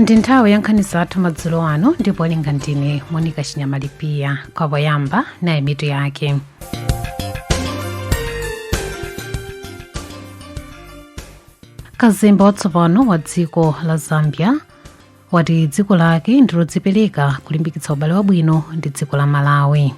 ndi nthawi ya nkhani zathu madzulo ano ndipo owerenga ndine monika chinyama lipiya kwa poyamba nayi mitu yake kazembe watsopano wa dziko la zambia wati dziko lake ndilodzipereka kulimbikitsa ubale wabwino ndi dziko la malawi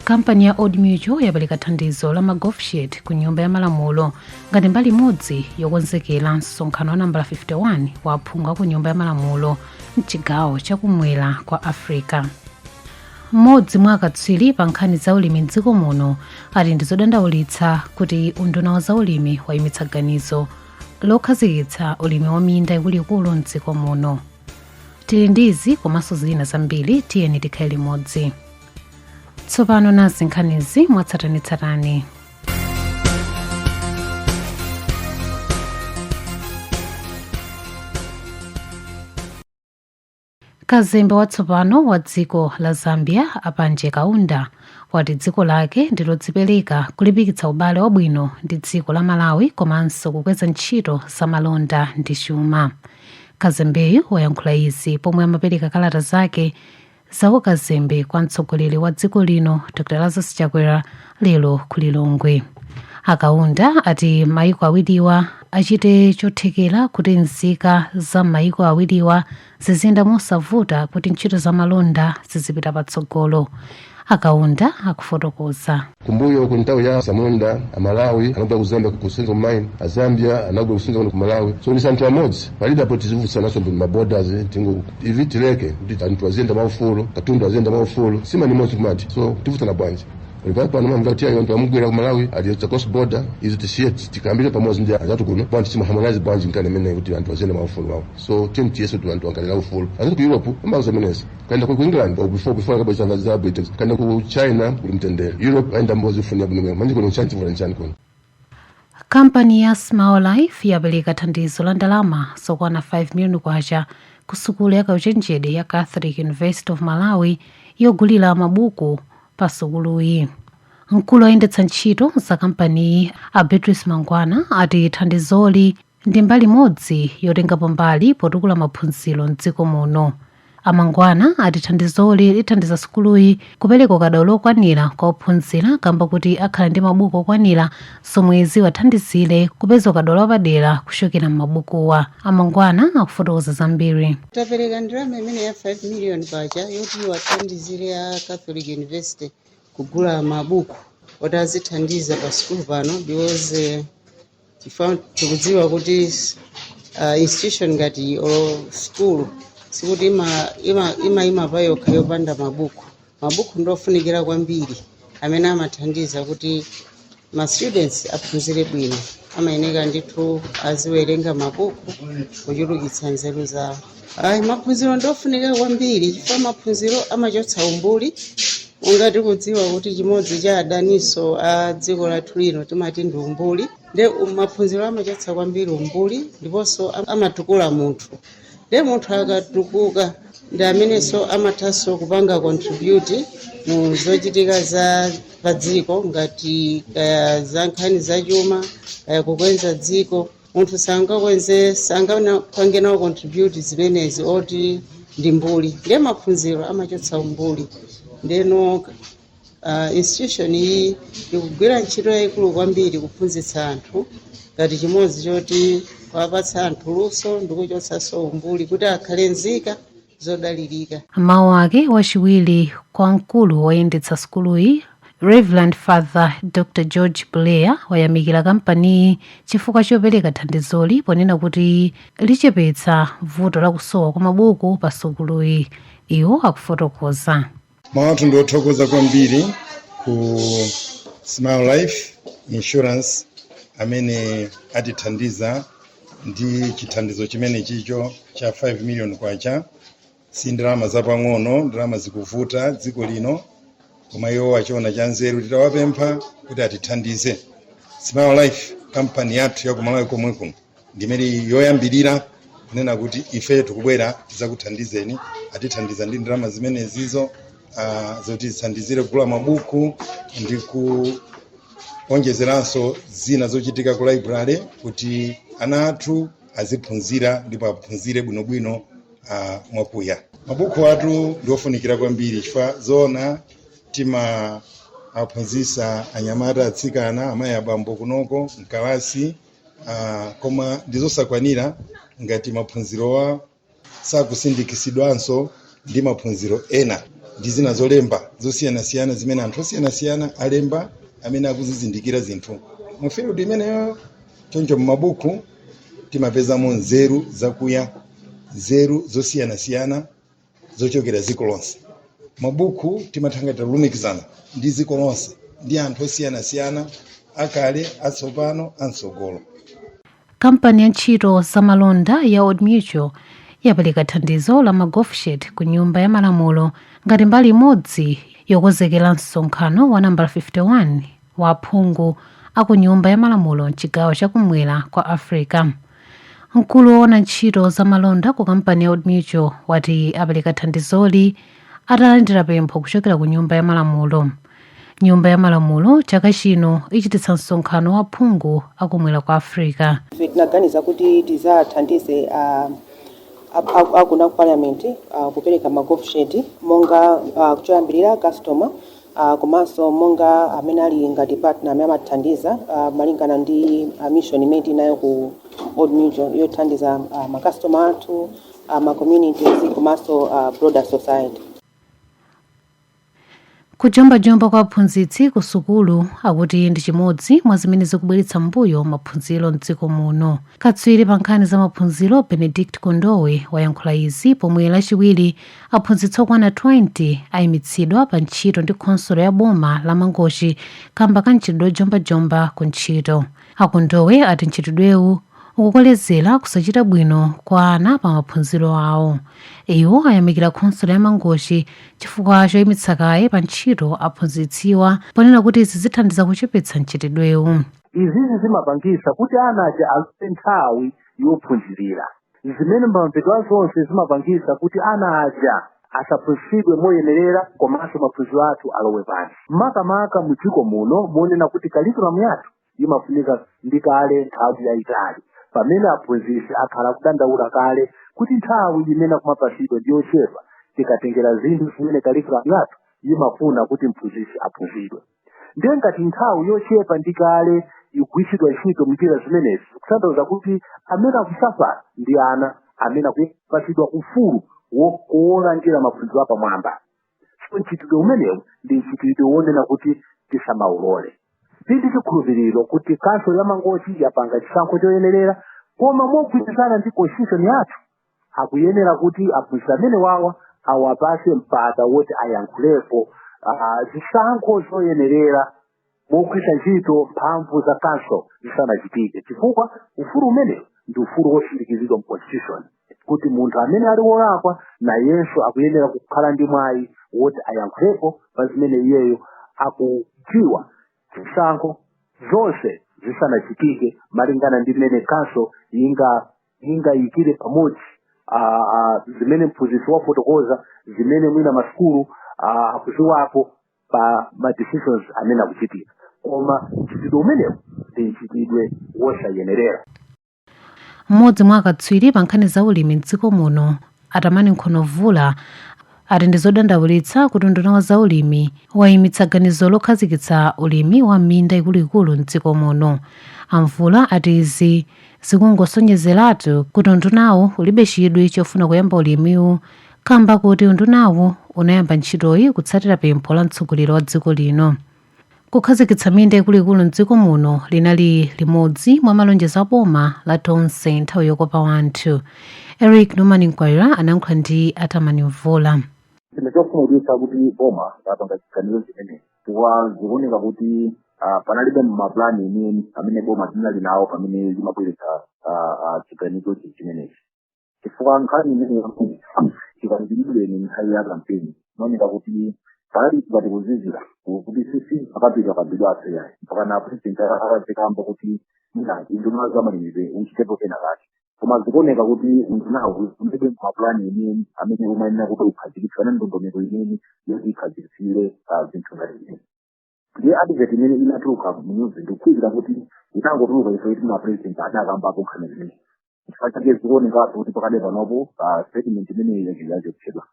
kampani ya old mutual yapereka thandizo la ma golf shirt ku nyumba ya malamulo ngati mbali imodzi yokonzekera msonkhano wa nambala 51 wa aphungu a ku nyumba ya malamulo mchigawo chakumwera kwa africa mmodzi mwa akatswiri pa nkhani za ulimi mdziko muno ati ndi zodandaulitsa kuti unduna wa zaulimi wayimitsa ganizo lokhazikitsa ulimi wa minda ikuluikulu mdziko muno tili ndi izi komanso zina zambiri tiyeni tikhale limodzi tsopano nazi nkhanizi mwatsatanetsatane kazembe watsopano wa dziko la zambia a panji kaunda wati dziko lake ndilodzipereka kulimbikitsa ubale wabwino ndi dziko la malawi komanso kukweza ntchito za malonda ndi chuma kazembeyu wayankhula izi pomwe amapereka kalata zake za ukazembe kwa mtsogoleri wa dziko lino dr lazarus chakwera lero ku lilongwe a kaunda ati maiko awiriwa achite chothekera kuti nzika za maiko awiriwa ziziyenda mosavuta kuti ntchito za malonda zizipita patsogolo a kaunda akufotokoza kumbuyo ku nthawi ya samunda amalawi anabwera ku zambia kusewenza mine azambia anabwera kusewenza ku malawi so ndi anthu amodzi palibe apo tizivutsanaso ndi maborders tingo ivi tileke kuti anthu aziyenda mwaufulu katundu aziyenda mwaufulu simani imodzi kumati so tivutsana bwanji Pali pano mamgati ayo anthu amugwera ku Malawi aliyotsa cross border izi tisiye tikambire pamodzi ndi azatu kuno bwanji simu harmonize bwanji nkani imene kuti anthu aziyenda mwa ufulu wawo so timu tiyeso kuti anthu ankalera ufulu azati ku Europe amauza menezi kaenda ku England or before before akabweza ngazi za Britain kaenda ku China kuli mtendere Europe aenda mbozi funi yabwino manje kuno nchani chivuta nchani kuno Kampani ya Smile Life yapereka thandizo la ndalama zokwana 5 miliyoni kwacha ku sukulu ya kauchenjede ya Catholic University of Malawi yogulira mabuku pa sukuluyi. Mkulu oyendetsa ntchito za kampaniyi a Beatrice Mangwana ati thandizoli ndi mbali imodzi yotengapo mbali potukula maphunziro m'dziko muno. A Mangwana ati thandizoli lithandiza sukuluyi kupereka ukadaulo okwanira kwa ophunzira kamba kuti akhala ndi mabuku okwanira zomwe ziwathandizire kupeza ukadaulo wapadera kuchokera m'mabukuwa. A Mangwana akufotokoza zambiri. tapereka ndalama imene ya 5 million kwacha yoti iwathandizire ya catholic university kugula mabuku oti azithandiza pa sukulu pano because eh, chifukwa tikudziwa kuti uh, institution ngati iyi or school sikuti ima- ima- imayima pa yokha yopanda mabuku mabuku ndiofunikira kwambiri amene amathandiza kuti ma students aphunzire bwino amayeneka ndithu aziwerenga mabuku kuchulukitsa nzeru zawo ayi maphunziro ndofunika kwambiri chifukwa maphunziro amachotsa umbuli monga tikudziwa kuti chimodzi cha adaniso a dziko lathu lino timati ndi umbuli nde um- maphunziro amachotsa kwambiri umbuli ndiponso am- amatukula munthu nde munthu akatukuka ndi amenenso amathanso kupanga contribute mu zochitika za padziko ngati kaya za nkhani zachuma kaya kukweza dziko munthu sangakweze sangapange nawo contribute zimenezi oti ndi mbuli ndiye maphunziro amachotsa umbuli ndeno uh, institution iyi ikugwira ntchito yayikulu kwambiri kuphunzitsa anthu ngati chimodzi choti kuwapatsa anthu luso ndikuchotsanso umbuli kuti akhale nzika zodalirika. Mawu ake wachiwiri kwa mkulu woyendetsa sukuluyi Reverend Father Dr. George Buleya wayamikira kampaniyi chifukwa chopereka thandizoli ponena kuti lichepetsa vuto la kusowa kwa mabuku pa sukuluyi. Iwo akufotokoza. Mawu athu ndiothokoza kwambiri ku Smile Life Insurance amene atithandiza ndi chithandizo chimenechicho cha 5 million kwacha si ndalama zapang'ono ndalama zikuvuta dziko lino koma iwo achiona cha nzeru titawapempha kuti atithandize Smile Life kampani yathu ya ku Malawi komwe kuno ndi imene ili yoyambirira kunena kuti ife tikubwera tidzakuthandizeni atithandiza ndi ndalama zimenezizo uh, zoti zithandizire kugula mabuku ndi kuonjezeranso zina zochitika ku library kuti ana athu aziphunzira ndipo aphunzire bwinobwino uh, mwakuya mabukuwatu ndi ofunikira kwambiri chifukwa zoona timawaphunzisa anyamata atsikana amayi abambo kunoko mkalasi Ah, koma ndizosakwanira ngati maphunzirowa sakusindikisidwanso ndi maphunziro ena ndi zina zolemba zosiyanasiyana zimene anthu osiyanasiyana alemba amene akuzizindikira zinthu mu field imeneyo choncho m'mabuku timapezamo nzeru zakuya nzeru zosiyanasiyana zochokera dziko lonse mabuku timatha ngati tulumikizana ndi dziko lonse ndi anthu osiyanasiyana akale atsopano amtsogolo kampani ya ntchito za malonda ya old mutual yapereka thandizo la ma golf shirt ku nyumba ya malamulo ngati mbali imodzi yokonzekera msonkhano wa nambala 51 wa aphungu a ku nyumba ya malamulo mchigawo chakumwera kwa africa Mkulu woona ntchito za malonda ku kampani ya Old Mutual wati apereka thandizoli atalandira pempho kuchokera ku Nyumba ya Malamulo. Nyumba ya Malamulo chaka chino ichititsa msonkhano wa aphungu akumwera kwa Africa. Ife tinaganiza kuti tizathandize uh, akuna ku parliament uh, kupereka ma golf shirt monga uh, choyambirira customer ah, komanso monga amene ali ngati partner amene amathandiza ah, malingana ndi ah, mission imene tinayo ku old mutual yothandiza ah, makastoma athu ah, ma communities komanso ah, broader society kujombajomba kwa aphunzitsi ku sukulu akuti ndi chimodzi mwa zimene zikubweretsa mmbuyo maphunziro mdziko muno katswiri pa nkhani za maphunziro benedict kondowe wayankhula izi pomwe lachiwiri Aphunzitsi okwana 20 ayimitsidwa pa ntchito ndi khonsolo ya boma la Mangochi kamba ka mchitidwe ojombajomba ku ntchito. A Kondowe ati mchitidwewu ukukolezera kusachita bwino kwa ana pa maphunziro awo. Iwo ayamikira khonsolo ya Mangochi chifukwa choyimitsa kaye pa ntchito aphunzitsiwa ponena kuti izi zithandiza kuchepetsa mchitidwewu. Izizi zimapangitsa kuti ana aja aluze nthawi yophunzirira. zimene mbamvedwa zonse zimapangisa kuti ana aja asaphunzitsidwe moyenerera komanso maphunziro athu alowe pansi makamaka mu dziko muno monena kuti kalikulamu yathu imafunika ndi kale nthawi yayitali pamene aphunzitsi akhala kudandaula kale kuti nthawi imene kumapasidwa ndi yochepa tikatengera zinthu zimene kalikulamu yathu imafuna kuti mphunzitsi aphunzidwe ndiye ngati nthawi yochepa ndi kale ikugwiritsidwa ntchito mnjira zimenezi kutanthauza kuti amene akusafala ndi ana amene akupatsidwa ufulu wokowola njira maphunziro apamwamba so mchitidwe umenewu ndi mchitidwe wonena kuti tisamawulole tili ndi chikhulupiriro kuti kanselo ya mangochi yapanga chisankho choyenerera koma mogwirizana ndi constitution yathu akuyenera kuti aphunzitsi amene wawa awapase mpata woti ayankhulepo ah, zisankho zoyenerera mogwiritsa ntchito mphamvu za kanselo zisanachitike chifukwa ufulu umenewu ndi ufulu wosindikizidwa mu constitution kuti munthu amene ali wolakwa nayenso akuyenera kukhala ndi mwayi woti ayankhulepo pa zimene iyeyo akudziwa zisankho zonse zisanachitike malingana ndi mmene kanselo ingayikire pamodzi ah, ah, zimene mphunzitsi wafotokoza zimene mwina masukulu ah, akudziwapo pa ma decisions amene akuchitika koma mchitidwe umenewu ndi mchitidwe wosayenerera mmodzi mwa akatswiri pa nkhani za ulimi mdziko muno A Tamani Nkhono-Mvula ati ndi zodandaulitsa kuti unduna wa zaulimi wayimitsa ganizo lokhazikitsa ulimi wa minda ikuluikulu m'dziko muno. A Mvula ati izi zikungosonyezeratu kuti undunawu ulibe chidwi chofuna kuyamba ulimiwu kamba koti undunawu unayamba ntchitoyi kutsatira pempho la mtsogoleri wa dziko lino. Kukhazikitsa minda ikuluikulu m'dziko muno linali limodzi mwa malonjezo a boma la Tonse nthawi yokopa wanthu. Eric Norman Nkwaira anayankhula ndi a Tamani Mvula. Chinthu chokhumudwitsa kuti boma lapanga chiganizo chimenechi chifukwa zikuoneka kuti ah, panalibe mapulani enieni amene boma linali nawo pamene limabweretsa ah, ah, chiganizo chi- chimenechi. chifukwa nkhani imene chikambidwireni nthawi ya kampeni inaoneka kuti panali kuti kuzizira kuti sisi akapita kabidwa aseyayi mpaka na president akadzakamba kuti mwina unduna wa zamalimidwe uchitepo kena kake koma zikuoneka kuti undunawo ulibe mapulani enieni amene umayenera kuti ukhazikitse kapena ndondomeko yeniyeni yoti ikhazikitsire ah, zinthu ngati izi ndiye advert imene inatuluka mnyuzi ndikukhulupirira kuti inangotuluka chifukwa choti a president adakambapo nkhani imeneyi chifukwa chake zikuonekatu kuti pakadali panopo ah, statement imeneyi yachotsedwa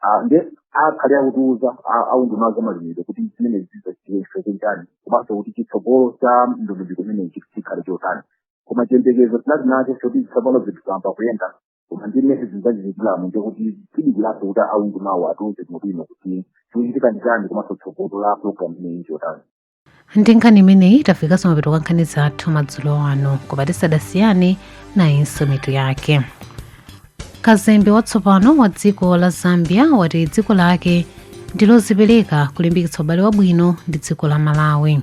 Ah, nde akhale akutiuza ah, aunduna wa zamalimidwe kuti zimenezi zachitika chifukwa chani komanso kuti chitsogolo cha ndondomeko imeneyi chikhale chotani koma chiyembekezo tinali nacho choti tsopano zinthu zayamba kuyenda koma ndi mmene zachitikiramu ndiye kuti tidikira kuti aundunawu atiuze bwinobwino kuti chikuchitika ndi chani komanso tsogolo la program imeneyi nlotani ndi nkhani imeneyi tafika kumapeto kwa nkhani zathu madzulo ano koma tisanasiyane nayinso mitu yake kazembe watsopano wa dziko la zambia wati dziko lake ndilodzipereka kulimbikitsa ubale wabwino ndi dziko la malawi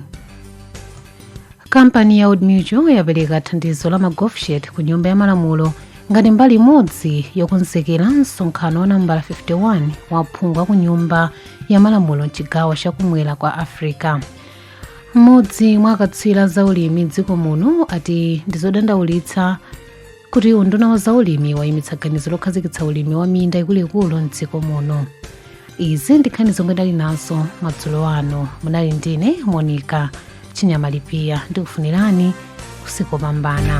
kampani ya old mutual yapereka thandizo la ma golf shirt ku nyumba ya malamulo ngati mbali imodzi yokonzekera msonkhano wa nambala 51 wa aphungu a ku nyumba ya malamulo mchigawo chakumwera kwa africa mmodzi mwa akatswiri za ulimi mdziko muno ati ndizodandaulitsa kuti unduna wa zaulimi wayimitsa ganizo lokhazikitsa ulimi wa minda ikuluikulu mdziko muno izi ndi nkhani zomwe tinali nazo madzulo ano munali ndine monica chinyama lipiya ndikufunirani usiku wopambana